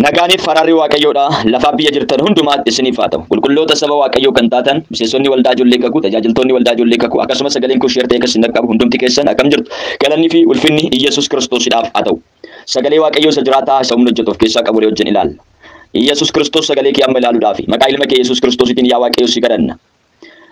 Nagaaniif faraarri Waaqayyoodha lafaa biyya jirtan hundumaatti isiniif haa ta'u. Qulqulloota saba Waaqayyoo kan taatan, miseensonni waldaa ijoollee kakuu, tajaajiltoonni waldaa ijoollee kakuu, akkasumas sagaleen kun sheer ta'ee kan isin dhaqqabu hundumti keessan akkam jirtu? Galanni fi ulfinni Iyyasuus Kiristoosidhaaf haa ta'u. Sagalee Waaqayyoo isa jiraataa isa humna hojjetu of keessaa qabu wajjin ilaalla. Iyyasuus Kiristoos sagalee kee amma ilaaluudhaafi. Maqaa ilma kee Yesuus Kiristoositiin yaa Waaqayyo si kadhanna.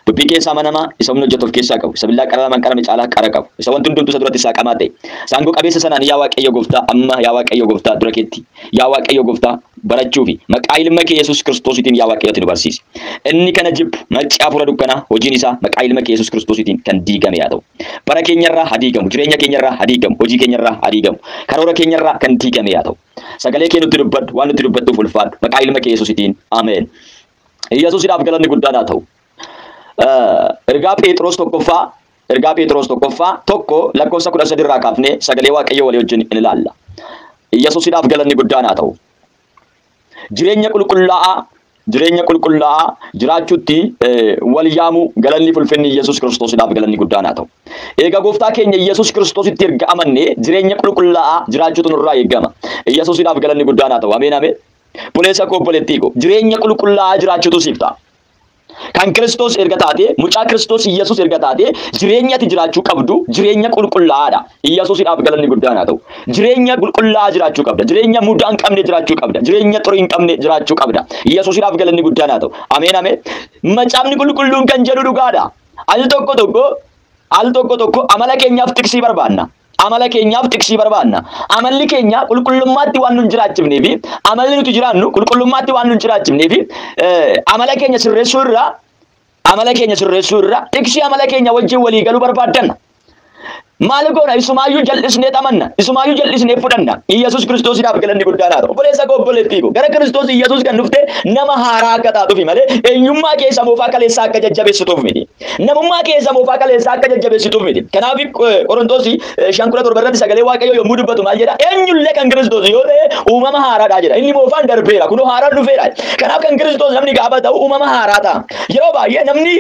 Dubbii keessa amanamaa, isa humna hojjetu of keessaa qabu, isa billaa qararamaan qarame caalaa qara qabu, isa wanti hundumtuu isa duratti saaqamaa ta'e, isa aangoo qabeessa sanaan yaa Waaqayyo Gooftaa, amma yaa Waaqayyo Gooftaa, dura keetti, yaa Waaqayyo Gooftaa, barachuu fi maqaa ilma kee Yesuus Kiristoosiitiin yaa Waaqayyo ati nu barsiisi. Inni kana jibbu, nacci hafuura dukkanaa, hojiin isaa maqaa ilma kee Yesuus Kiristoosiitiin kan diigame yaa ta'u. Bara keenyarraa haa diigamu, jireenya keenyarraa haa diigamu, hojii keenyarraa haa diigamu, karoora keenyarraa kan diigame yaa ta'u. Sagalee kee nutti dubbadhu, waan nutti dubbattuuf ulfaadhu, maqaa ilma kee Yesuusiitiin. Ameen. Iyyasuusidhaaf galanni guddaan haa ta'u. Ergaa Pheexiroos tokkoffaa Ergaa Pheexiroos tokkoffaa tokko lakkoofsa kudha sadi irraa kaafnee sagalee Waaqayyoo walii wajjin in ilaalla. Iyyasuusidhaaf galanni guddaan haa ta'u. Jireenya qulqullaa'aa jireenya qulqullaa'aa jiraachuutti wal yaamuu galanni fulfinni Iyyasuus Kiristoosidhaaf galanni guddaan haa ta'u. Egaa gooftaa keenya Iyyasuus Kiristoositti erga amannee jireenya qulqullaa'aa jiraachuutu nurraa eegama. Iyyasuusidhaaf galanni guddaan haa ta'u. Ameen ameen. Obboleessa koo obboleettii koo jireenya qulqullaa'aa jiraachuutu siif ta'a. Kan Kiristoos erga taatee, mucaa Kiristoos Iyyasuus erga taatee, jireenya ati jiraachuu qabdu jireenya qulqullaa'aadha. Iyyasuusidhaaf galanni guddaan haa ta'u. Jireenya qulqullaa'aa jiraachuu qabda. Jireenya mudaa hin qabne jiraachuu qabda. Jireenya xurii hin qabne jiraachuu qabda. Iyyasuusidhaaf galanni guddaan haa ta'u. Ameen ameen. Macaafni qulqulluun kan jedhu dhugaadha. Al tokko tokko al tokko tokko amala keenyaaf tiksii barbaanna. Amala keenyaaf tiksii barbaanna. Amalli keenya qulqullummaatti waan nun jiraachifnee fi amalli nuti jiraannu qulqullummaatti waan nun jiraachifnee fi amala keenya sirreessuu irraa amala keenya sirreessuu irraa tiksii amala keenya wajjin walii galuu barbaaddanna. Maal goona isumaayyuu jal'isnee xamanna isumaayyuu jal'isnee fudhanna Iyyasuus Kiristoosiidhaaf galanni guddaan haa ta'u obboleessa koo obboleettii koo gara Kiristoos Iyyasuus kan dhufte nama haaraa akka taatuufi malee eenyummaa keessa moofaa kaleessaa akka jajjabeessituuf miti. Namummaa keessa moofaa kaleessaa akka jajjabeessituuf miti. Kanaaf Qorontoos 5:17 irratti sagalee Waaqayyoo yommuu dubbatu maal jedha? Eenyullee kan Kiristoos yoo ta'e uumama haaraadha jedha. Inni moofaan darbeera, kunoo haaraan dhufeera. Kanaaf kan Kiristoos namni gaafa ta'u uumama haaraa ta'a. Yeroo baay'ee namni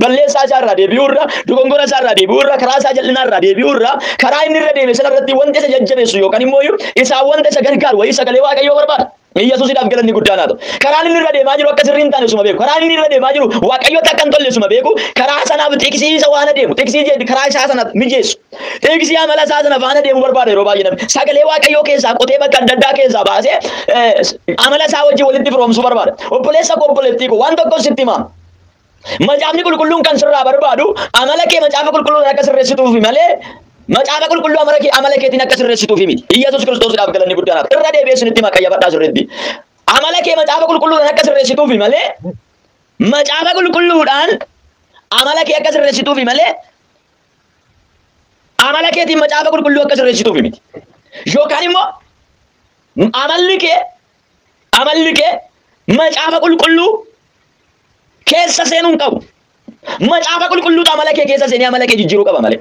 balleessaa isaa irraa deebi'uu irra, dogongora isaa irraa deebi'uu irra, karaa isaa jal'inaa irraa deebi'uu irra, karaa inni irra deeme sana irratti wanta isa jajjabeessu yookaan immoo isaa wanta isa gargaaru wayii sagalee Waaqayyoo barbaada. Mee Yesuusidhaaf galanni guddaan haa ta'u. Karaan inni irra deemaa jiru akka sirrii hin taane osuma beeku. Karaan inni irra deemaa jiru Waaqayyotti akka hin tolle osuma beeku. Karaa sanaaf xiqsii isa waan adeemu. Xiqsii jedhu karaa isaa sana mijeessu. Xiqsii amala isaa sana faana deemu barbaada yeroo baay'ee namni. Sagalee Waaqayyoo keessaa qotee bakka adda addaa keessaa baasee eh, amala isaa wajjin walitti firoomsuu barbaada. Obboleessa koo obboleettii koo waan tokko sitti himaa. Macaafni qulqulluun kan sirraa barbaadu amala kee macaafa qulqulluun akka sirreessituufi malee macaafa qulqulluu amala kee amala keetiin akka sirreessituufi miti. Iyyasuus Kiristoosiidhaaf galanni guddaan hafa. Irra deebi'ee isinitti hima qayyabadhaa sirriitti. Amala kee macaafa qulqulluudhaan akka sirreessituufi malee macaafa qulqulluudhaan amala kee akka sirreessituufi malee amala keetiin macaafa qulqulluu akka sirreessituufi miti. Yookaan immoo amalli kee Amalli kee macaafa qulqulluu keessa seenuu hin qabu. Macaafa qulqulluutu amala kee keessa seenee amala kee jijjiiruu qaba malee.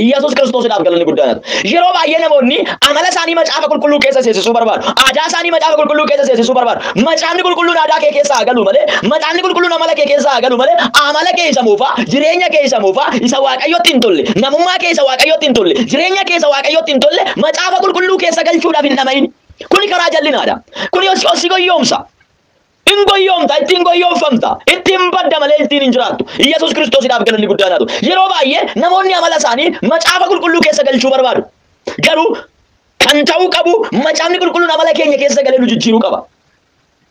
Iyyasuus Kiristoosidhaaf galanni guddaan haa ta'u. Yeroo baay'ee namoonni amala isaanii macaafa qulqulluu keessa seensisuu barbaadu. Aadaa isaanii macaafa qulqulluu keessa seensisuu barbaadu. Macaafni qulqulluun aadaa kee keessa haa galu malee, macaafni qulqulluun amala kee keessa haa galu malee, amala kee isa moofaa, jireenya kee isa moofaa, isa Waaqayyotti hin tolle, namummaa kee isa Waaqayyotti hin tolle, jireenya kee isa Waaqayyotti hin tolle, macaafa qulqulluu keessa galchuudhaaf hin dhama'in. Kuni karaa jallinaadha. Kuni os ossi goyyoomsa. In goyyoomta, ittiin goyyoomfamta, ittiin badda malee ittiin hin jiraattu. Yesuus Kiristoosidhaaf galanni guddaan haa ta'u. Yeroo baay'ee namoonni amala isaanii macaafa qulqulluu keessa galchuu barbaadu. Garuu kan ta'uu qabu macaafni qulqulluun amala keenya keessa galee nu jijjiiruu qaba.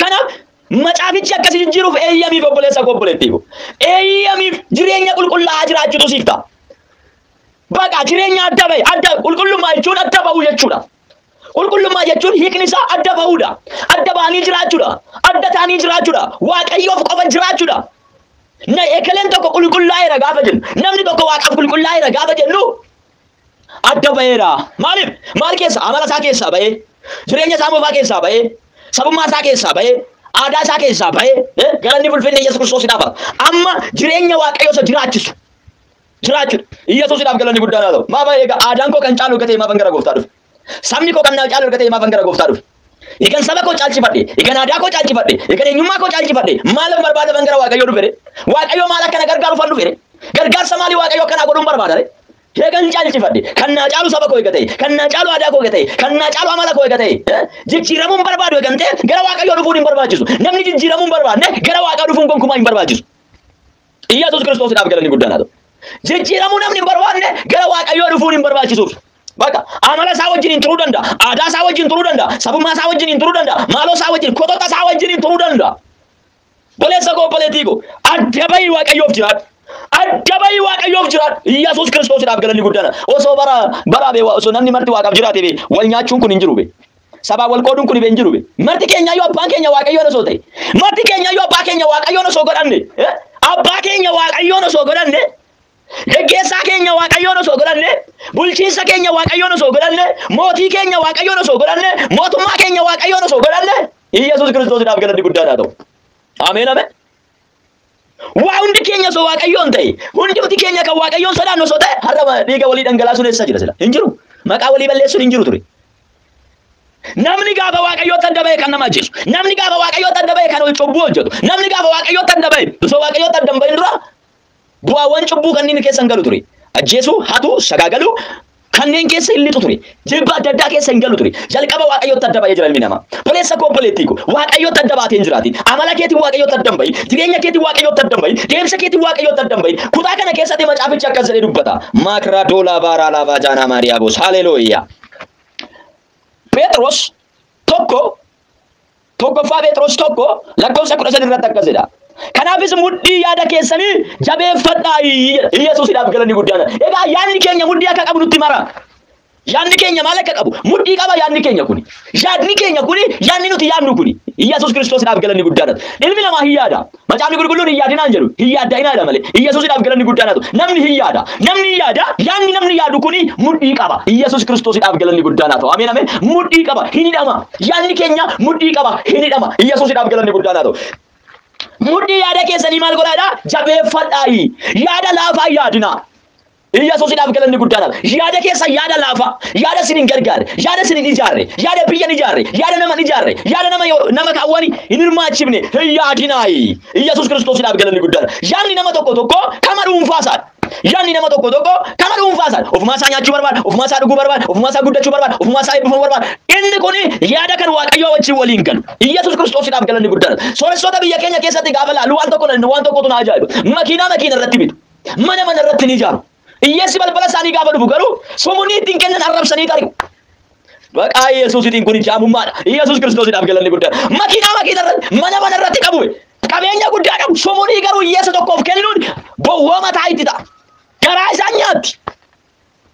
Kanaaf macaafichi akka si jijjiiruuf eeyyamiif obboleessa koo obboleettii koo. Eeyyamiif jireenya qulqullaa'aa jiraachuutu siif ta'a. Baqa jireenya adda bahe adda qulqullummaa jechuun adda bahuu jechuudha. Qulqullummaa jechuun hiikni isaa adda bahuudha. Adda bahanii jiraachuudha. Adda ta'anii jiraachuudha. Waaqayyoof qofa jiraachuudha. Na ekeleen tokko qulqullaa'eera gaafa jennu namni tokko waaqaaf qulqullaa'eera gaafa jennu adda ba'eera. Maaliif? Maal keessa? Amala isaa keessaa ba'ee, jireenya isaa moofaa keessaa ba'ee, sabummaa isaa keessaa ba'ee, aadaa isaa keessaa ba'ee, eh, galanni fulfinni Yesuus Kiristoosidhaaf haa ta'u. Amma jireenya Waaqayyoo isa jiraachisu jiraachuudha. Yesuusidhaaf galanni guddaan haa ta'u. Maaf egaa aadaan koo kan caalu gatee maafan gara gooftaa dhufe? Sabni koo kan naa caalu erga ta'e maafan gara gooftaa dhufe? Egan saba koo caalchifadhe, egan aadaa koo caalchifadhe, egan eenyummaa koo caalchifadhe maalif barbaada ban gara Waaqayyoo dhufe ree? Waaqayyoo maal akka na gargaaru fan dhufe ree? Gargaarsa maalii Waaqayyoo akka naa godhun barbaada ree? Egan caalchifadhe, kan naa caalu saba koo eega ta'e, kan naa caalu aadaa koo eega ta'e, kan naa caalu amala koo eega ta'e, eh? jijjiiramuun barbaadu egan ta'e gara Waaqayyoo dhufuun hin barbaachisu. Namni jijjiiramuun barbaadne gara Waaqaa dhufuun gonkumaa hin barbaachisu. Iyyasuus Kiristoosiidhaaf galanni guddaan haa ta'u. Jijjiiramuu namni hin barbaanne gara Waaqayyoo dhufuun hin barbaachisuuf. Bakka amala isaa wajjin hin turuu danda'a, aadaa isaa wajjin turuu danda'a, sabummaa isaa wajjin hin turuu danda'a, maaloo isaa wajjin, kotota isaa wajjin hin turuu danda'a. Boleessa koo boleettii koo adda bahii Waaqayyoof jiraadhu. Adda bahii Waaqayyoof jiraadhu. Iyyasuus Kiristoosiidhaaf galanni guddaan. Osoo bara bara bee osoo namni marti Waaqaaf jiraate bee wal nyaachuun kun hin jiru bee. Sabaan wal qooduun kun hin jiru be. Marti keenyayyuu abbaan keenya waaqayyoon osoo ta'e. Marti keenyayyuu abbaa keenya waaqayyoon osoo godhanne. eh, Abbaa keenya waaqayyoon osoo godhanne. Geggeessaa keenya waaqayyoon osoo godhanne. Bulchiinsa keenya waaqayyoon osoo godhanne. Mootii keenya waaqayyoon osoo godhanne. Mootummaa keenya waaqayyoon osoo godhanne. Iyyasuus Kiristoosiidhaaf galanni guddaadhaa ta'u. Ameen ameen. Waa hundi keenya osoo waaqayyoon ta'e, hundumti keenya kan waaqayyoon sodaannu osoo ta'e, har'a dhiiga walii dhangalaasuun eessa jira sila? Hin jiru. Maqaa walii balleessuun hin jiru ture. Namni gaafa waaqayyootti adda ba'e kan nama ajjeesu, namni gaafa waaqayyootti adda ba'e kan cubbuu hojjetu, namni gaafa waaqayyootti adda ba'e osoo waaqayyootti adda hin ba'in dura Bu'aawwan cubbuu kanneen keessa hin galu ture. Ajjeesuu, hatuu, sagaagaluu kanneen keessa hin lixu ture. Jibba adda addaa keessa hin galu ture. Jalqaba Waaqayyootti adda ba'ee jira ilmi namaa. Obboleessa koo obboleettii koo Waaqayyootti adda baatee hin jiraatin. Amala keetiin Waaqayyootti adda hin bahin. Jireenya keetiin Waaqayyootti adda hin bahin. Deemsa keetiin Waaqayyootti adda hin bahin. Kutaa kana keessatti macaafichi akkas jedhee dubbata. Maakraa doolaa baaraa laafaa jaanaa maariyaa boos. Haleelooyyaa. Pheexroos tokko Tokkoffaa Phexros tokko lakkoofsa kudha sadi irratti akkas jedha. Kanaafis mudhii yaada keessanii jabeeffadhaa jedha. Iyyasuusidhaaf galanni guddaan. Egaa yaadni keenya mudhii akka qabu nutti mara. Yaadni keenya maal akka qabu? Mudhii qaba yaadni keenya kuni. Yaadni keenya kuni yaadni nuti yaadnu kuni. Iyyasuus Kiristoosidhaaf galanni guddaan. Ilmi namaa hin yaada. Macaafni Qulqulluun hin yaadinaa hin jedhu, hin yaadda'inaa jedha malee. Iyyasuusidhaaf galanni guddaan haa ta'u. Namni hin yaada. Namni hin yaada. Yaanni namni yaadu kuni mudhii qaba. Iyyasuus Kiristoosidhaaf galanni guddaan haa ta'u. Ameen ameen. Mudhii qaba. Hin hidhama. Yaanni keenya mudhii qaba. Hin hidhama. Iyyasuusidhaaf galanni guddaan haa ta'u. Mudhii yaada keessanii maal godhaa jedhaa? Jabeeffadhaayi. Yaada laafaa hin yaadinaa. Iyyasuusidhaaf galanni guddaadha. Yaada keessan yaada laafaa, yaada isin hin gargaarre, yaada isin hin ijaarre, yaada biyya hin ijaarre, yaada nama hin ijaarre, yaada nama yoo- nama kaawwani hin hirmaachifne hin yaadinaayi. Iyyasuus Kiristoosidhaaf galanni guddaadha. Yaadni nama tokko tokko kama dhuunfaa isaati. Yaadni nama tokko tokko kama dhuunfaa isaati. Ofumaa isaa nyaachuu barbaada, ofumaa isaa dhuguu barbaada, ofumaa isaa guddachuu barbaada, ofumaa isaa eebbifamuu barbaada. Inni kun yaada kan Waaqayyoo wajjin waliin galu. Iyyasuus Kiristoosidhaaf galanni guddaadha. Sooressoota biyya keenya keessatti gaafa laalu waan tokko waan tokkotu na ajaa'iba. Makiinaa makiina irratti bitu. Mana mana irratti ni ijaaru. Hiyyeessi balbala isaanii gaafa dhufu garuu sumunnii ittiin kennan arrabsanii tari'u. Maqaa Yesuusitiin kun jaamummaadha. Yesuus Kiristoosiidhaaf galanni guddaan. Makiinaa makiina irratti, mana mana irratti qabu. Qabeenya guddaa qabu. Sumunnii garuu hiyyeessa tokkoof kennuun gowwooma ta'a itti ta'a. Garaa isaan nyaatti.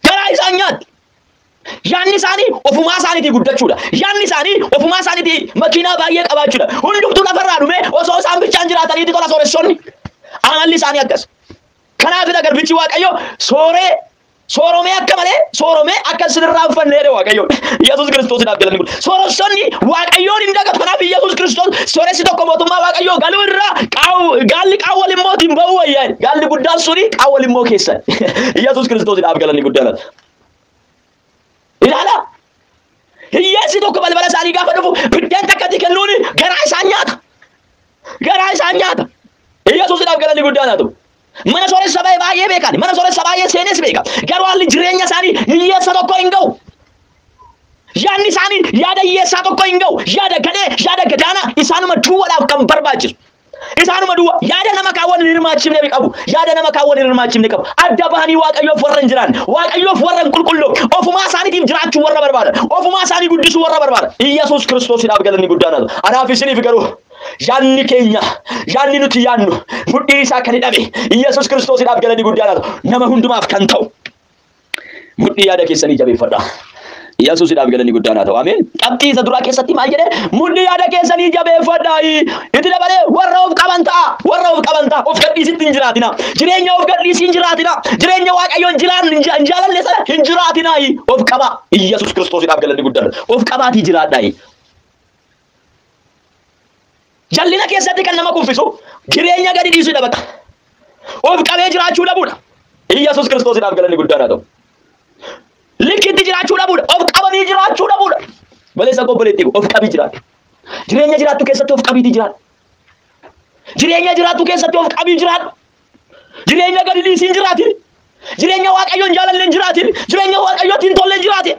Garaa isaan nyaatti. Yaanni isaanii ofumaa isaaniitii guddachuudha. Yaanni isaanii ofumaa isaaniitii makiinaa baay'ee qabaachuudha. Hundumtuu lafarraa dhumee osoo isaan bichaan jiraataniiti tola sooressonni. Amalli isaanii akkas. Kanaafidha garbichi Waaqayyo sooree sooromee akka malee sooromee akka isinirraa hin fanne jedhe Waaqayyo. Yesuus Kiristoosidhaaf galanni kun. Sooressonni Waaqayyoon hin dagatu. Kanaaf Yesuus Kiristoos sooressi tokko mootummaa Waaqayyoo galuu irraa qaawwa- gaalli qaawwa limmootiin ba'uu wayyaa. Gaalli guddaan suni qaawwa limmoo keessan. Yesuus Kiristoosidhaaf galanni guddaan. Ilaalaa! Hiyyeessi tokko balbala isaanii gaafa dhufu biddeen takkatti kennuun garaa isaan nyaata. Garaa isaan nyaata. Iyyasuusidhaaf galanni guddaan haa ta'u. Mana sooressa baay'ee baay'ee beekan. Mana sooressa baay'ee seenes beeka. Garuu haalli jireenya isaanii hiyyeessa tokko hin ga'u. Yaadni isaanii yaada hiyyeessaa tokko hin ga'u. Yaada gadhee, yaada gadaanaa isaanuma duwwaadhaaf kan barbaachisu. Isaanuma duwwa yaada nama kaan wal hin hirmaachifne ni qabu. Yaada nama kaan wal hin hirmaachifne qabu. Adda bahanii Waaqayyoof warra hin jiraanne, Waaqayyoof warra hin qulqulloofne, ofumaa isaaniitiif jiraachuu warra barbaadan, ofumaa isaanii guddisuu warra barbaadan. Iyyasuus Kiristoosidhaaf galanni guddaan haa ta'u. Anaaf isiniif garuu yaadni keenya, yaadni nuti yaadnu mudhii isaa kan hidhame Iyyasuus Kiristoosidhaaf galanni guddaan haa ta'u. Nama hundumaaf kan ta'u. Mudhii yaada keessanii jabeeffadha. Yesuusidhaaf galanni guddaan haa ta'u. Ameen. Qabxii isa duraa keessatti maal jedhe? Mudhii yaada keessanii jabeeffadha. Itti dabalee warra of qaban ta'a. Warra of qaban ta'a. Of gadhiisitti hin jiraatina. Jireenya of gadhiisii hin jiraatina. Jireenya Waaqayyoon jiraan hin jaalanne sana hin jiraatina. Of qaba. Yesuus Kiristoosidhaaf galanni guddaan. Of qabaatii jiraadha. Jallina keessatti kan nama kuffisu jireenya gadi dhiisuu dha bakka. Of qabee jiraachuu dhabuudha. Iyyasuus Kiristoosidhaaf galanni guddaan haa ta'u. Likkitti jiraachuu dhabuudha. Of qabanii jiraachuu dhabuudha. Baleessa obboleetti of qabii jiraadhu. Jireenya jiraattu keessatti of qabiitii jiraadhu. Jireenya jiraattu keessatti of qabii jiraadhu. Jireenya gadi dhiisiin jiraatiin. Jireenya waaqayyoon jaalalleen jiraatiin. Jireenya waaqayyootiin tolleen jiraatiin.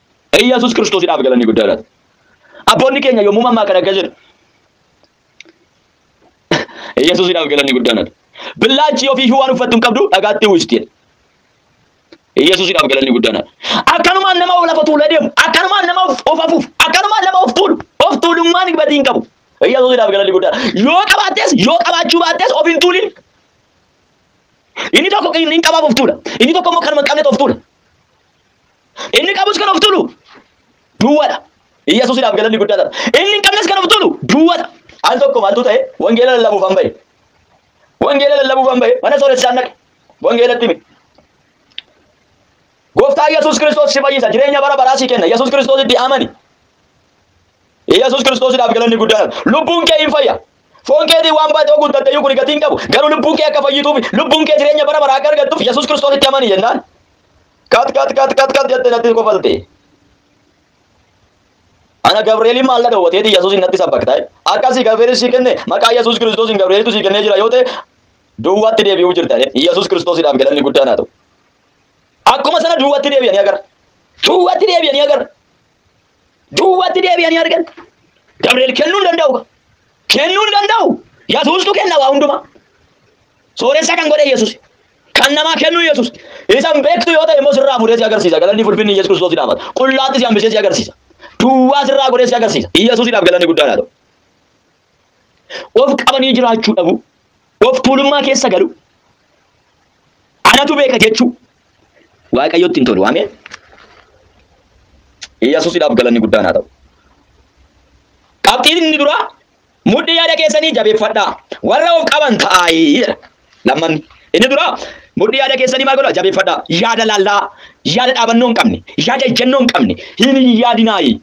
Iyyasuus Kiristoosidhaaf galanni guddaa laata. Abboonni keenya yommuu mammaakan akka jedhu Iyyasuusidhaaf galanni guddaa laata. Billaachi ofii iyyuu waan uffattu hin qabdu dhagaatti uwwisti jedhe. Iyyasuusidhaaf galanni guddaa laata. Akkanumaan nama of lafa tuulee deemu, akkanumaan nama of of afuuf, akkanumaan nama of tuulu, of tuulummaan gatii hin qabu. Iyyasuusidhaaf galanni guddaa laata. Yoo qabaattes yoo qabaachuu baattees of hin tuulin. Inni tokko inni hin qabaaf of tuula. Inni tokko immoo kanuma hin qabnetu of tuula. Inni qabus kan of tulu duwwadha. Iyyasuusidhaaf galanni guddaa dha. Inni hin qabnes kan of tulu duwwadha. Al tokko maaltu ta'e wangeela lallabuuf an ba'e. Wangeela lallabuuf an ba'e mana sooressaan dhaqe. Wangeelatti hime. Gooftaa Iyyasuus Kiristoos si fayyisa jireenya bara baraa si kenna. Iyyasuus Kiristoositti amani. Iyyasuus Kiristoosiidhaaf galanni guddaa dha. Lubbuun kee hin fayya. Foon keetii waan baay'ee guuttatte iyyuu kun gatii hin qabu. Garuu lubbuun kee akka fayyituuf lubbuun kee jireenya bara baraa akka argattuuf Iyyasuus Kiristoositti amani jennaan Kat kat kat kat kat jette natti kofalte. Ana Gabri'eeliin maal na dhowwateeti Yesuusin natti sabbaktaa'e. Akkasii Gabri'eelis si kenne maqaa Yesuus Kiristoosiin Gabri'eelitu si kennee jira yoo ta'e duwwaatti deebi'uu jirta. Yesuus Kiristoosiidhaaf galanni guddaan haa ta'u. Akkuma sana duwwaatti deebi'anii agarra. Duwwaatti deebi'anii agarra. Duwwatti deebi'anii argan. Gabri'eel kennuu hin danda'u. Kennuu hin danda'u. Yesuustu kenna waa hundumaa. Sooressa kan godhe Yesuus. Kan namaa kennu Yesuus. Isan beektu yoo ta'e immoo sirraa fuudhee si agarsiisa. Galanni fulfinni Yesuus Kiristoos dhaabata. Qullaatti si hambisee si agarsiisa. Duwwaa sirraa godhee si agarsiisa. Yesuusidhaaf galanni guddaa laata. Of qabanii jiraachuu dhabu. Of tuulummaa keessa galu. Anatu beeka jechuu. Waaqayyotti hin tolu. Ameen. Iyyasuusidhaaf galanni guddaan haa ta'u. Qabxiin inni duraa mudhii yaada keessanii jabeeffadhaa. Warra of qaban ta'aayi jedha. Lammanni. Inni duraa mudhii yaada keessanii maal godhaa jabeeffadhaa. Yaada laallaa, yaada dhaabannoo hin qabne, yaada ejjennoo hin qabne hin yaadinaayi.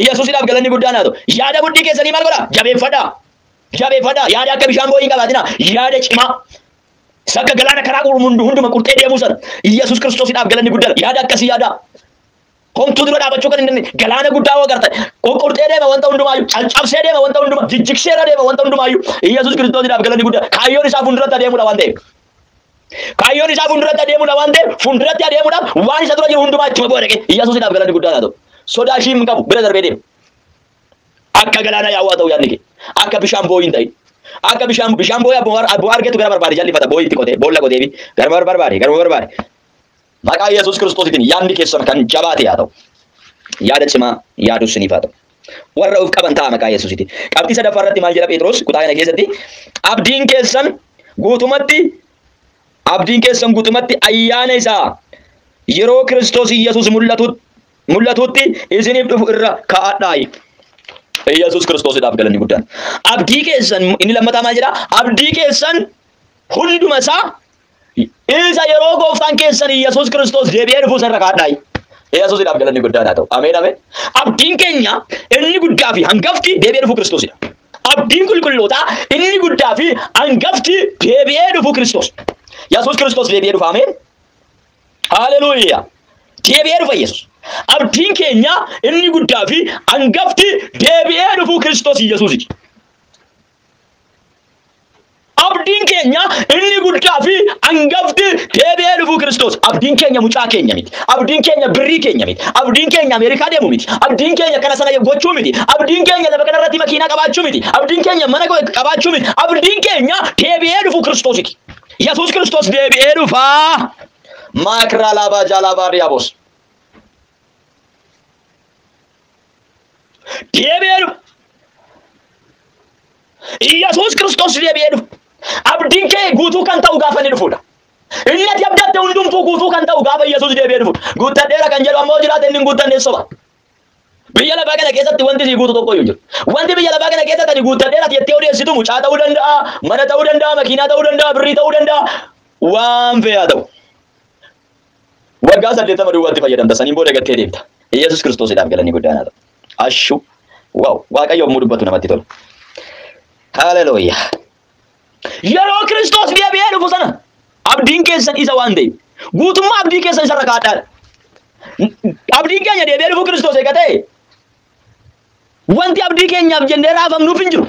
Iyyasuusidhaaf galanni guddaan haa ta'u. Yaada mudhii keessanii maal godhaa? Jabeeffadhaa. Jabeeffadhaa. Yaada akka bishaan boo'ii hin qabaatinaa. Yaada cimaa. Isa akka galaana karaa qurmu hundu- hunduma qurxee deemuu sana. Iyyasuus Kiristoosidhaaf galanni guddaan. Yaada akkasii yaadaa. Homtuu dura dhaabachuu kan hin dandeenye. Galaana guddaa hoo agartan. Qurqurtee deema wanta hundumaayyuu. Caccabsee deema wanta hundumaa. Jijjigseera deema wanta hundumaayyuu. Iyyasuus Kiristoosidhaaf galanni guddaan. Kaayyoon isaa fuulduratti adeemuudha waan ta'eef. Kaayyoon isaa fuulduratti adeemuudha waan ta'eef fuulduratti adeemuudhaaf waan isa dura jiru hundumaa ittuma bu'a dhaqee Iyyasuusidhaaf galanni guddaa haa ta'u. Sodaa ishii hin qabu bira darbee deema. Akka galaana yaa'uu haa ta'u yaadni kee. Akka bishaan boo'ii hin ta'in. Akka bishaan bishaan boo'ee abbuma argetu gara barbaade jallifata boo'ii itti qotee boolla qotee fi gara barbaade garuma barbaade Maqaa Yesuus Kiristoositiin yaadni keessan kan jabaate haa ta'u. Yaada cimaa yaaduu isiniif haa ta'u. Warra of qaban ta'a maqaa Yesuusitiin. Qabxii sadaffaa irratti maal jedha Phexros kutaa kana keessatti? Abdiin keessan guutumatti abdiin keessan guutumatti ayyaana isaa yeroo Kiristoos Yesuus mul'atu mul'atutti isiniif dhufu irra kaa'adhaa. Yesuus Kiristoosidhaaf galanni guddaan. Abdii keessan inni lammataa maal jedha? Abdii keessan hunduma isaa Isa yeroo gooftaan keessan Yesuus Kiristoos deebi'ee dhufuu isa irra kaadhaayi. Yesuusidhaaf galanni guddaan haa ta'u. Ameen ameen. Abdiin keenya inni guddaa fi hangafti deebi'ee dhufuu Kiristoosidha. Abdiin qulqullootaa inni guddaa fi hangafti deebi'ee dhufuu Kiristoos. Yesuus Kiristoos deebi'ee dhufa. Ameen. Haleluuyaa. Deebi'ee dhufa Yesuus. Abdiin keenya inni guddaa fi hangafti deebi'ee dhufuu Kiristoos Yesuusiti. Abdiin keenya inni guddaa fi angafti deebi'ee dhufuu Kiristoos. Abdiin keenya mucaa keenya miti. Abdiin keenya birrii keenya miti. Abdiin keenya Ameerikaa deemu miti. Abdiin keenya kana sana gochuu miti. Abdiin keenya lafa kana irratti makiinaa qabaachuu miti. Abdiin keenya mana qabaachuu miti. Abdiin keenya deebi'ee dhufuu Kiristoositi. Yesuus Kiristoos deebi'ee dhufaa. Maakiraa laabaa jaalaa baariyaa boos. deebi'ee dhufa. Iyyasuus Kiristoos deebi'ee dhufa. Abdiin kee guutuu kan ta'u gaafa inni dhufudha. Inni ati abdatte hundumtuu guutuu kan ta'u gaafa Iyyasuus deebi'ee dhufudha. Guuttadheera kan jedhu ammoo jiraate inni hin guuttanne soba. Biyya lafaa kana keessatti wanti sii guutu tokko iyyuu jiru. Wanti biyya lafaa kana keessatti ani guuttadheera ati jettee odeessitu mucaa ta'uu danda'a, mana ta'uu danda'a, makiinaa ta'uu danda'a, birrii ta'uu danda'a, waan fe'aa ta'u. Waggaa 80 duwwaatti fayyadamta saniin booda gattee deemta. Iyyasuus Kiristoosidhaaf galanni guddaan haa ta'u. Ashu! Wow! Waaqayyo yommuu dubbatu namatti tola. Haleluuyaa! Yeroo Kiristoos deebi'ee dhufu sana abdiin keessan isa waan ta'eef guutummaa abdii keessan isarra kaadhaadha. Abdiin keenya deebi'ee dhufuu Kiristoos eega ta'e wanti abdii keenyaaf jennee raafamnuuf hin jiru.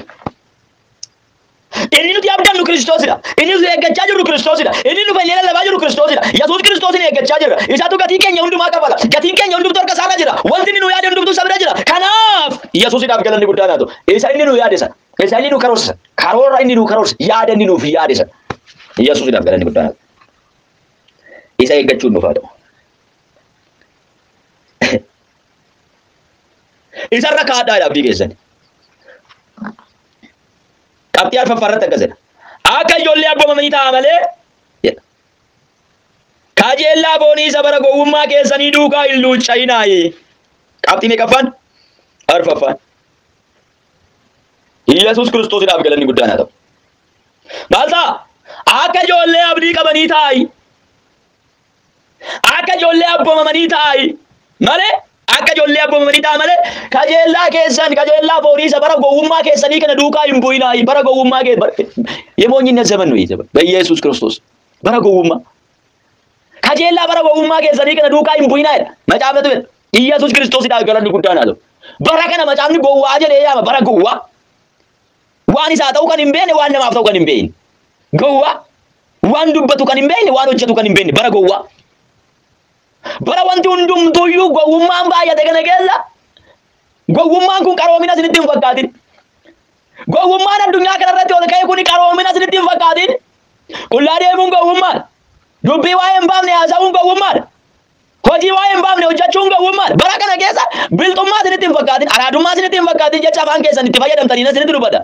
Inni nuti abdannu Kiristoosidha. Inni nuti eeggachaa jirru Kiristoosidha. Inni nu fayyee lallabaa jirru Kiristoosidha. Yesuus Kiristoosin eeggachaa jirra. Isaatu gatii keenya hundumaa kafala. Gatiin keenya hundumtu harka isaarra jira. Wanti inni nu yaade hundumtu isa bira jira. Kanaaf Yesuusidhaaf galanni guddaan haa ta'u. Isa inni nu yaade sana. Isa inni nu karoorse sana. Karoora inni nu karoorse. Yaada inni nuuf yaade sana. Yesuusidhaaf galanni guddaan haa ta'u. Isa eeggachuun nuuf haa ta'u. Isarra kaadhaa jedha abdii keessan. Qabxii arfaffaa irratti akkas jedha. Akka ijoollee abboomamanii ta'a malee jedha. Kajeellaa foonii isa bara gowwummaa keessanii duukaa hin luucca'inaayi. Qabxii meeqaffaan? Arfaffaan. Iyyasuus Kiristoosidhaaf galanni guddaan haa ta'u. Maal ta'a? Akka ijoollee abdii qabanii taa'i. Akka ijoollee abboomamanii ta'aa'i malee akka ijoollee abboomamanii ta'a malee kajeellaa keessan kajeellaa foonii isa bara gowwummaa keessanii kana duukaa hin bu'inaa'i bara gowwummaa kee bara yemoonyinna zaman nuyi zaman ba'Yesuus Kiristoos bara gowwummaa kajeellaa bara gowwummaa keessanii kana duukaa hin bu'inaa'edha macaafatu jedha Iyyasuus Kiristoosidhaaf galanni guddaan haa ta'u bara kana macaafni gowwaa jedhee yaama bara gowwaa waan isaa ta'uu kan hin beekne waan namaaf ta'uu kan hin beekne gowwaa Waan dubbatu kan hin beekne, waan hojjetu kan hin beekne bara gowwaa. Bara wanti hundumtuuyyuu gowwummaan baay'ate kana keessa gowwummaan kun qaroomina isinitti hin fakkaatin. Gowwummaan addunyaa kanarratti ol ka'e kun qaroomina isinitti hin fakkaatin. Qullaa deemuun gowwummaadha. Dubbii waa'ee hin baafne haasa'uun gowwummaadha. Hojii waa'ee hin baafne hojjechuun gowwummaadha. Bara kana keessa bilxummaa isinitti hin fakkaatin, araadummaa isinitti hin fakkaatin jecha afaan keessan itti fayyadamtaniin isinitti dubbata.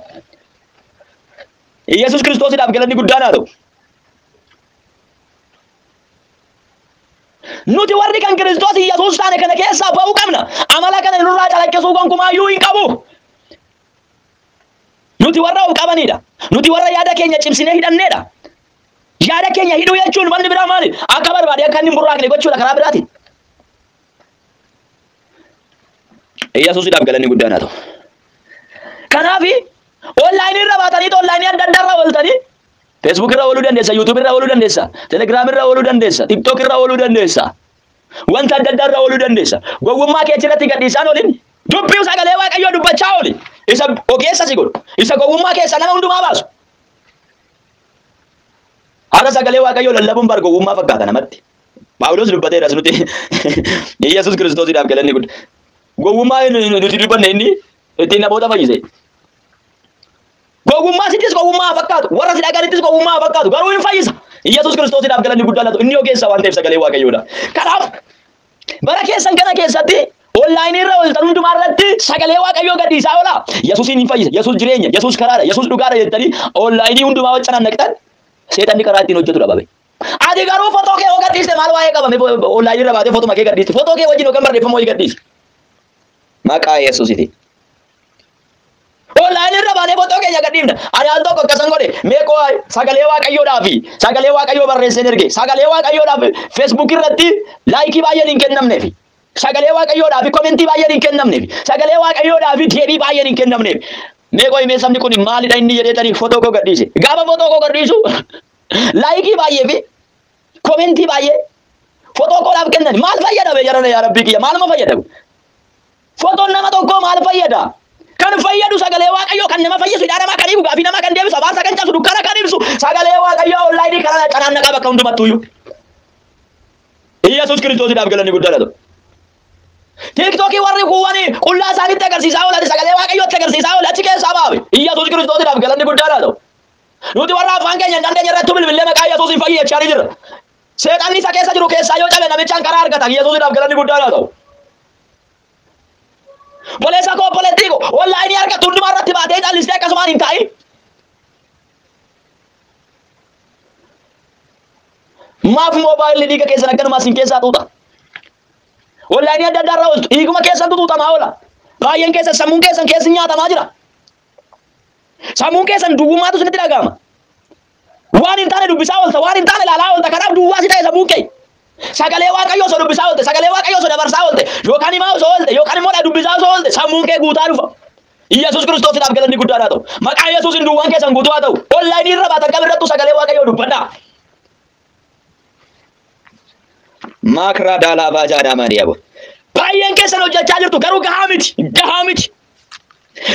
Iyyasuus Kiristoosidhaaf galanni guddaan haa ta'u. Nuti warri kan Kiristoos Iyyasuus taane kana keessaa ba'uu qabna. Amala kana nurraa calaqqisuu gonkumaayyuu hin qabu. Nuti warra of qabanidha. Nuti warra yaada keenya cimsinee hidhannedha. Yaada keenya hidhuu jechuun wanni biraa maali? Akka barbaade akka inni hin burraaqne gochuudha karaa biraatiin. Yesuusidhaaf galanni guddaan haa ta'u. Kanaaf onlaayinii irra baatanii onlaayinii adda addaa irra ooltanii feesbuuk irra ooluu dandeessa, yuutuub irra ooluu dandeessa, telegiraam irra ooluu dandeessa, tiktook irra ooluu dandeessa. Wanta adda addaa irra ooluu dandeessa. Gowwummaa kee achirratti gadhiisaan olin dubbii sagalee waaqayyoo dubbachaa ooli. Isa ogeessa si godhu. Isa gowwummaa keessa nama hundumaa baasu. Har'a sagalee waaqayyoo lallabuun bar gowwummaa fakkaata namatti. Phaawulos dubbateeras nuti Yesuus Kiristoosiidhaaf galanni gudda. Gowwummaa inni nuti dubbanne inni ittiin namoota fayyise. Gowwummaa sittis gowwummaa haa fakkaatu. Warra si dhaga'anittis gowwummaa haa fakkaatu. Garuu hin fayyisa. Yesuus Kiristoosiidhaaf galanni guddaa laatu. Inni ogeessa waan ta'eef sagalee Waaqayyoodha. Kanaaf bara keessan kana keessatti onlaayinii irra ooltan hundumaa irratti sagalee Waaqayyoo gadhiisaa oolaa. Yesuusiin hin fayyisa. Yesuus jireenya. Yesuus karaadha. Yesuus dhugaadha jettanii onlaayinii hundumaa waccanaan naqxan seexanni karaa ittiin hojjetu dhabame. Ati garuu fotoo kee yoo gadhiiste maal waa'ee qabame online irra baatee fotuma kee gadhiiste fotoo kee wajjin yookaan barreeffama wayii gadhiisi. Maqaa Yesuusitiin. Online irra baanee fotoo keenya gadhiifna. Ani al tokko akkasan godhe meeqoo sagalee waaqayyoodhaa fi sagalee waaqayyoo barreesseen erge sagalee waaqayyoodhaa fi Facebook irratti laayikii baay'een hin kennamneef. Sagalee waaqayyoodhaa fi komentii baay'een hin kennamneef. Sagalee waaqayyoodhaa fi deebii baay'een hin kennamneef. Meeqoo himee sabni kun maalidha inni jedheetanii fotoo koo gadhiise. Gaafa fotoo koo gadhiisu Laayikii baay'ee fi komentii baay'ee fotoo koo naaf kennan maal fayyada bee jarana yaa rabbii kiyya maaluma fayyada kun? Fotoon nama tokkoo maal fayyada? Kan fayyadu sagalee waaqayyoo kan nama fayyisu hidhaa namaa kan hiiku gaafii namaa kan deebisu abaarsa kan cabsu dukkana kan ibsu sagalee waaqayyoo onlaayinii karaa canaan naqaa bakka hundumattuuyyuu. Iyyasuus kiristoosiidhaaf galanni guddaa dha ta'u. Tiiktookii warri kuuwwanii qullaa isaanitti agarsiisaa oolan sagalee waaqayyootti agarsiisaa oolan achi keessaa baabe. Iyyasuus kiristoosiidhaaf galanni guddaa dha ta'u. Nuti warra afaan keenya hin dandeenye irrattuu bilbillee maqaa Yesuusiin fayyi jechaa ni jirra. Seexanni isa keessa jiru keessaa yoo cabe namichaan karaa argatan Yesuusidhaaf galanni guddaan haa ta'u. Boleessa koo obboleettii koo onlaayinii argattu hundumaa irratti baatee callistee akkasumaan hin taa'in. Maaf moobaayilli dhiiga keessan akkanumaa isin keessaa xuuxa. Onlaayinii adda addaa irraa ooltu dhiiguma keessantu xuuxamaa oola. Baay'een keessan sammuun keessan keessi nyaatamaa jira. Sammuun keessan duwwummaatu isinitti dhaga'ama. Waan hin taane dubbisaa oolta, waan hin taane ilaalaa oolta. Kanaaf duwwaa si ta'e sammuun kee. Sagalee Waaqayyoo osoo dubbisaa oolte, sagalee Waaqayyoo osoo dabarsaa oolte, yookaan himaa osoo oolte, yookaan immoo dubbisaa osoo oolte, sammuun kee guutaa dhufa. Yesuus Kiristoosiidhaaf galanni guddaan haa ta'u. Maqaa Yesuusiin duwwaan keessan guutuu haa ta'u. Onlaayinii irra baatan kam irrattuu sagalee Waaqayyoo dubbadhaa. Maakraa daalaa baajaa daamaa diyaaboo. Baay'een keessan hojjechaa jirtu garuu gahaa miti, gahaa miti.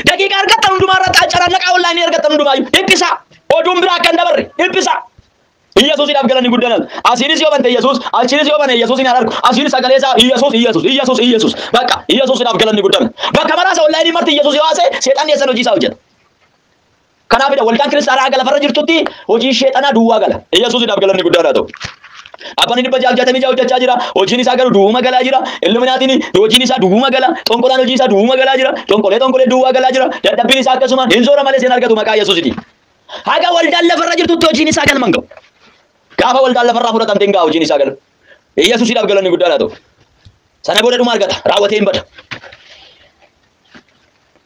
Daqiiqaa argattan hundumaa irratti carallaqaa onlaayinii argattan hundumaayyuu dhiphisaa. Oduun biraa akka hin dabarre dhiphisaa. Iyyasuusiidhaaf galanni guddaan ala. Asiinis yoo bante Iyyasuus, achiinis yoo bane Iyyasuusiin haa argu. Asiin sagalee isaa Iyyasuus, Iyyasuus, Iyyasuus, Iyyasuus. Bakka Iyyasuusiidhaaf galanni guddaan. Bakka maraasa onlaayinii marti Iyyasuus yoo haasa'e seexanni eessan hojii isaa hojjeta. Kanaafidha waldaan kiristaanaa haga lafarra jirtutti hojiin sheexanaa duwwaa gala. Iyyasuusidhaaf galanni guddaan haa ta'u. Abbaan dhibba jaaf jaatamii ja'a hojjechaa jira. Hojiin isaa garuu duwwuma galaa jira. Illuminaatiin hojiin isaa duwwuma gala. Xonqolaan hojiin isaa duwwuma galaa jira. Xonqolee xonqolee duwwaa galaa jira. Dadhabbiin isaa akkasuma hin zoora malee seen argatu maqaa Iyyasuusitiin. Haga waldaan lafarra jirtutti hojiin isaa galma hin ga'u. Gaafa waldaan lafarraa fudhatamte hin ga'a hojiin isaa gala. Iyyasuusiidhaaf galanni guddaan haa ta'u. Sana booda dhuma argata. Raawwatee hin bada.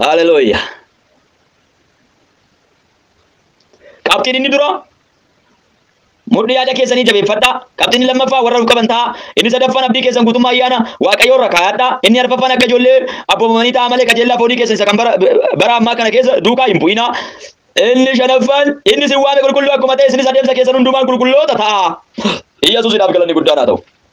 Haleluya. Qabxiin inni dura mudhii yaada keessanii jabeeffadhaa. Qabxiin lammaffaa warra of qaban ta'a. Inni sadaffaan abdii keessan guutummaa ayyaana Waaqayyoo irra kaa'adhaa. Inni arfaffaan akka ijoollee abboomamanii ta'a malee qajeellaa foonii keessan isa kan bara, bara ammaa kana keessa duukaa hin bu'inaa. Inni shanaffaan inni isin waame qulqulluu akkuma ta'e isinis adeemsa keessan hundumaan qulqulloota ta'a. Iyyasuusidhaaf galanni guddaan haa ta'u.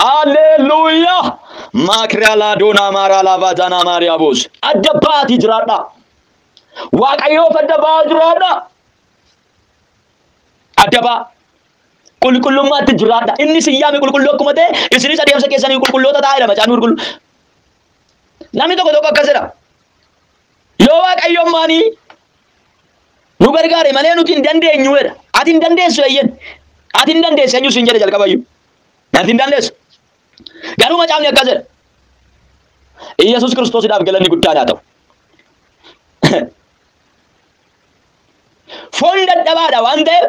Haalleelluuyaa! Maakiraa laadoonaa maaraa laavaazaanaa maariyaa boos. Adda ba'aatii jiraadhaa. Waaqayyoof adda ba'aa jiraadhaa. Adda ba'aa. Qulqullummaatti jiraadhaa. Inni isin yaame qulqulluu akkuma ta'e isinis adeemsa keessanii qulqulloota ta'aa jedha macaafni qulqulluu. Namni tokko tokko akkas jedha. Yoo Waaqayyo ammaanii nu gargaare malee nuti hin dandeenyu jedha. Ati hin dandeessu eeyyen. Ati hin dandeessu eenyu siin jedhe jalqabayyuu. Ati hin dandeessu. Garuu macaafni akkas jedha. Iyyasuus Kiristoosidhaaf galanni guddaan haa ta'u. Foon dadhabaadha waan ta'eef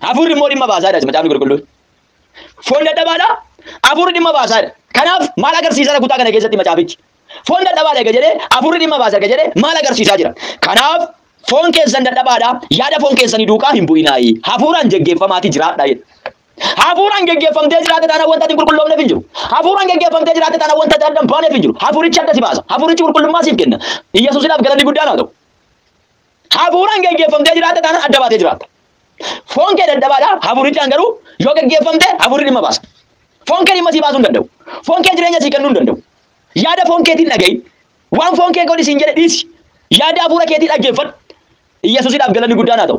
hafuurri immoo dhimma baasaadha macaafni qulqulluun. Foon dadhabaadha hafuurri dhimma baasaadha. Kanaaf maal agarsiisara kutaa kana keessatti macaafichi? Foon dadhabaadha ega jedhee afurri dhimma baasa ega jedhee maal agarsiisaa jira? Kanaaf foon keessan dadhabaadha yaada foon keessanii duukaa hin bu'inaayi. Hafuuraan geggeeffamaati jiraadha jedha. Hafuuraan geggeeffamtee jiraate taanaan wanta ati hin qulqulloofneef hin jiru. Hafuuraan geggeeffamtee jiraate taanaan wanta ati adda hin baaneef hin jiru. Hafuurichi adda si baasa. Hafuurichi qulqullummaa siif kenna. Iyyasuusiidhaaf galanni guddaan haa ta'u. Hafuuraan geggeeffamtee jiraatta taanaan adda baatee jiraatta. Foon kee dadhabaadha, hafuurichaan garuu yoo geggeeffamte hafuurri dhimma baasa. Foon kee dhimma sii baasuu hin danda'u. Foon kee jireenya sii kennuu hin danda'u. Yaada foon keetiin dhaga'i. Waan foon kee godhi siin jedhe dhiisi. Yaada hafuura keetii dhaggeeffadhu. Iyyasuusiidhaaf galanni guddaan haa ta'u.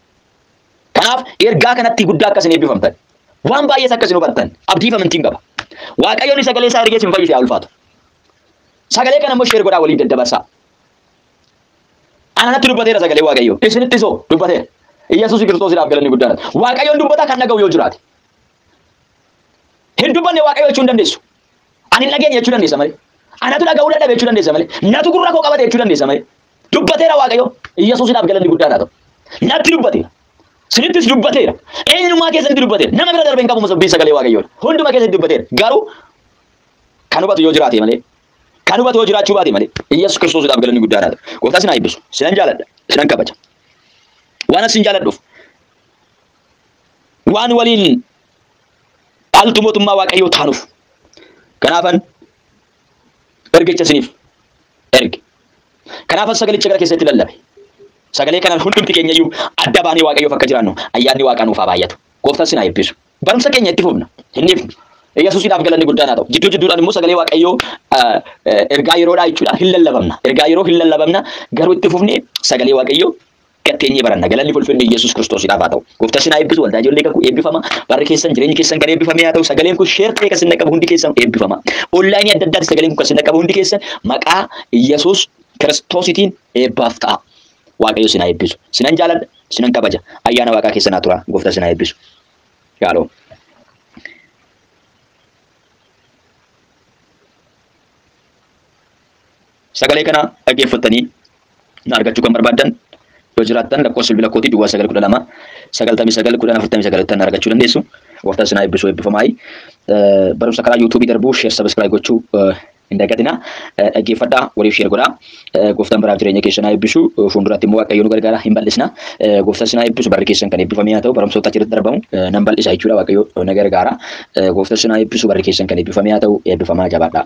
Kanaaf ergaa kanatti guddaa akka isin eebbifamtan waan baay'ees akka isin hubattan abdiif amantiin qaba. Waaqayyoon sagalee isaa ergee isin fayyise haa ulfaatu. Sagalee kana immoo sheer godhaa waliin daddabarsaa. Ananatti dubbateera sagalee Waaqayyoo. Isinitti soo dubbateera. Iyyasuus Kiristoosiidhaaf galanni guddaan. Waaqayyoon dubbata kan dhaga'u yoo jiraate. Hin dubbanne Waaqayyo jechuu hin dandeessu. Ani hin dhageenye jechuu dandeessa malee. Anatu dhaga'uu dadhabe jechuu dandeessa malee. Natu gurra koo qabate jechuu dandeessa malee. Dubbateera Waaqayyo. Yesuusidhaaf galanni guddaan haa ta'u. Natti dubbateera. Sinittis dubbateera. Eenyummaa keessanitti dubbateera. Nama bira darbee hin qabu masabbii sagalee Waaqayyoodha. Hunduma keessatti dubbateera. Garuu kan hubatu yoo jiraate malee kan hubatu yoo jiraachuu baate malee Yesuus Kiristoosidhaaf galanni guddaan haa ta'u. Gooftaa sin haa eebbisu. Sinan jaaladha. Sinan kabaja. Waan asin jaaladhuuf waan waliin dhaaltu mootummaa Waaqayyoo taanuuf. Kanaafan ergicha isiniif erge. Kanaafan sagalicha gara keessanitti lallabe. Sagalee kanaan hundumti keenya iyyuu adda baanee Waaqayyoof akka jiraannu ayyaanni Waaqaa nuuf haa baay'atu. Gooftaan sin haa eebbisu. Barumsa keenya itti fufna. Hin dhiifnu. Yesuusiidhaaf galanni guddaan haa ta'u. Jidduu jidduudhaan immoo sagalee Waaqayyoo ah, eh, ergaa yeroodhaa jechuudha. Hin lallabamna. Ergaa yeroo hin lallabamna. Garuu itti fufnee sagalee Waaqayyoo gad teenyee baranna. Galanni fi ulfinni Yesuus Kiristoosiidhaaf haa ta'u. Gooftaan isin haa eebbisu. Waldaa ijoollee kakuu eebbifama. Barri keessan jireenyi keessan kan eebbifamee haa ta'u. Sagaleen kun sheer ta'ee kan isin dhaqqabu hundi keessan eebbifama. Onlaayinii adda addaatti sagaleen kun kan isin dhaqqabu hundi keessan maqaa Yesuus Kiristoosiitiin eebbaaf ta'a. Waaqayyo isin haa eebbisu. Sinan jaaladha, sinan kabaja. Ayyaana Waaqaa keessan haa tura. Gooftaan isin haa eebbisu. Yaaloo. Sagalee kana dhaggeeffattanii na argachuu kan barbaaddan yoo jiraattan lakkoofsa bilbila kootii duwwaa 912 99 10 49 ittiin na argachuu dandeessu. Gooftaan isin haa eebbisu eebbifamaayi. Barumsa karaa yuutuubii darbuu sheer sabiskiraayib gochuu hin dagatina. Dhaggeeffadhaa waliif sheer godhaa. Gooftaan baraaf jireenya keessan haa eebbisu. Fuulduraatti immoo Waaqayyo nu gargaara hin bal'isna. Gooftaan isin haa eebbisu barri keessan kan eebbifamee haa ta'u barumsoota achirratti darbamu nan bal'isa jechuudha Waaqayyo na gargaara. Gooftaan isin haa eebbisu barri keessan kan eebbifamee haa ta'u eebbifamaa jabaadhaa.